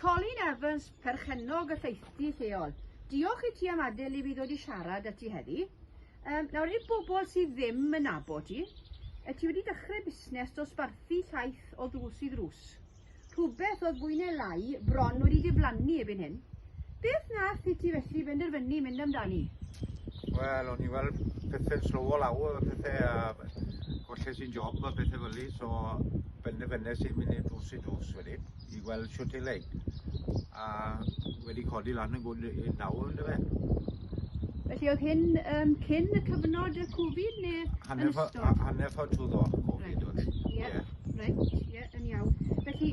Colin Evans, perchennog y lleithdy lleol. Diolch i ti am adael i fi ddod i siarad â ti heddi. Um, nawr, i'r bobl sydd ddim yn nabod ti, y ti wedi dechrau busnes dosbarthu llaeth o ddrws i ddrws. Rhywbeth oedd fwy neu lai bron wedi diflannu ebyn hyn. Beth nath i ti felly benderfynu mynd amdani? Wel, o'n i weld pethe'n slowo lawr a pethe a golles i'n job a pethe fel i, so benderfynes i'n mynd i'r drws i drws wedyn i weld siwt i leid. A wedi codi lan yn gwrdd i'n nawr yn dyfe. Felly oedd hyn um, cyn y cyfnod y Covid neu yn ystod? Hanner ffordd trwy ddo, Covid oedd hyn. Ie, reit, ie, yn iawn. Felly,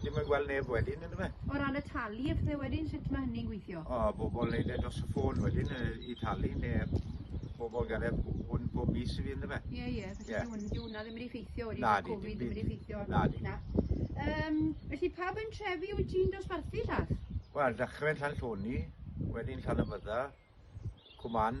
Ddim yn gweld neb wedyn yndyfe? O ran y talu a phethe wedyn sut ma' hynny'n gweithio? O bobol neud e dros y ffôn wedyn yy i talu ne' bobol ga'l e hwn bob mis i fi yndyfe? Ie ie felly Ie. dyw dyw hwnna ddim wedi effeithio wedi Nadi, dim Covid ddim wedi effeithio Nadi. na. Yym felly pa bentrefi wyt ti'n dosbarthu Llath? Wel dechre'n Llanllwni, wedyn Llanymydda, Cwman,